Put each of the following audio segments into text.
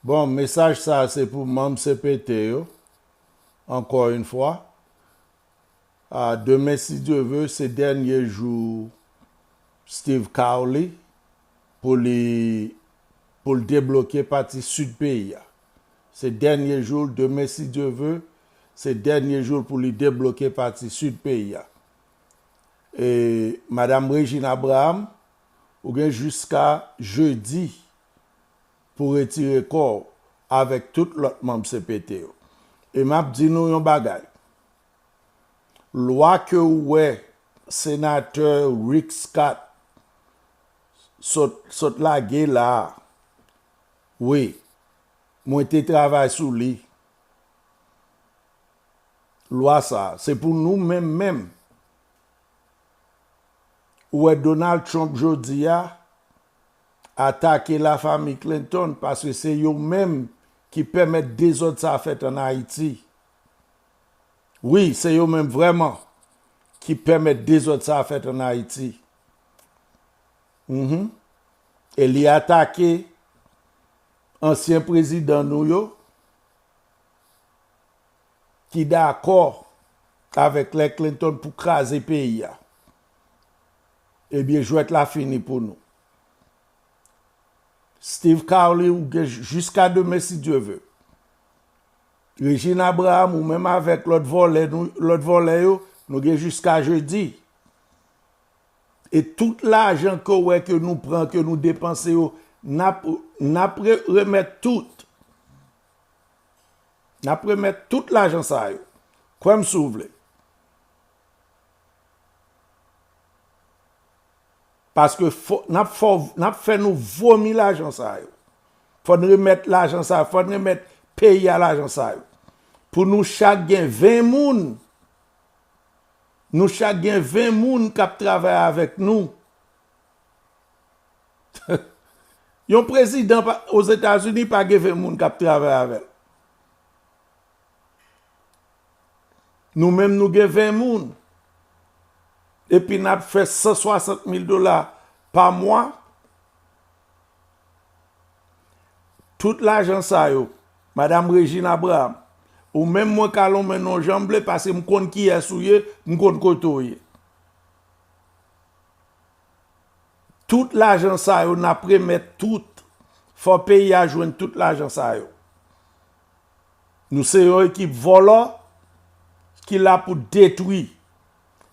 Bon mesaj sa se pou manm cpt yo ankò yn fwa ahh demen si Dye ve se dènye jou Steeve Khawly pou li pou l debloke pati sud peyi a se dènye jou l demen si Dye ve se dènye jou l pou li debloke pati sud peyi a e madam Regine Abraham Ou gen jiska jedi pou retire kò w avèk tout lòt manm cpt yo. E m ap di nou yon bagay, lwa ke ou wè Senatè Rick Scott sot lage la a, wi, mwen te travay sou li, lwa sa a, se pou nou menm menm Ou wè Donald Trump jodi a atake la fami Clinton paske se yo menm ki pèmèt dezòd sa fèt an Ayiti. Wi se yo menm vrèman ki pèmèt dezòd sa fèt an Ayiti. Mph e li atake ansyen prezidan nou yo. ki dakò avèk lè Clinton pou kraze peyi a ebyen jwèt la fini pou nou Steve Carly ou gen jiska demen si Dye ve Regine Abraham ou menm avèk lòt vòlè nou lòt vòlè yo nou gen jiska jedi e tout lajan ke w wè ke nou pran ke nou depanse yo nap nap remèt tout. Nap remet tout lajan sa yo. Kwem si w vle. Paske nap fe nou vomi lajan sa yo. Fon remet lajan sa yo. Fon remet peyi a lajan sa yo. Pou nou chak gen 20 moun. Nou chak gen 20 moun kap travay avek nou. Yon prezidan ozetazini pa gen 20 moun kap travay avèl. Nou menm nou gen 20 moun. Epi nap fè 160 mil dola pa mwa. Tout lajan sa yo. Madam Regine Abraham. Ou menm mwen ka lonmen nou janm vle paske m konn kiyès ou ye, m konn kote ou ye. Tout lajan sa yo nap remet tout fò peyi a jwenn tout lajan sa yo nou se yon ekip vòlò ki la pou detwi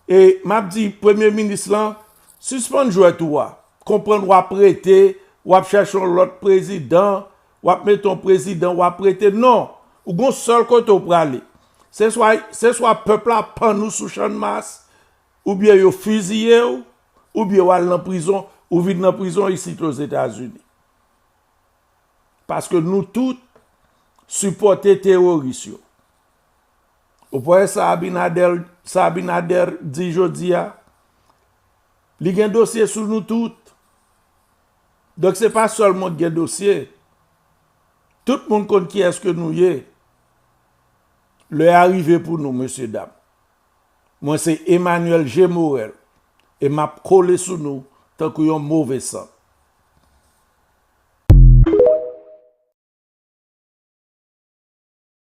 e map di premye minis lan sispann jwèt ou a konprann wap rete wap chèche yon lòt prezidan wap mete yon prezidan wap rete non ou gon sèl kote ou prale se swa pèp la pann ou sou chan mas Ou byen yo fiziye w, ou byen w al nan prizon, ou vin nan prizon isit o Zetazini. Paske nou tout sipòte teworis yo. Ou pa wè sa Abinader di jodi a? Li gen dosye sou nou tout. Donk se pa sèl mwen ki gen dosye. Tout moun konn kiyès ke nou ye. Lè a rive pou nou, mesye dam. Mwen se Emmanuel G. Morel e map kole sou nou tankou yon move sant.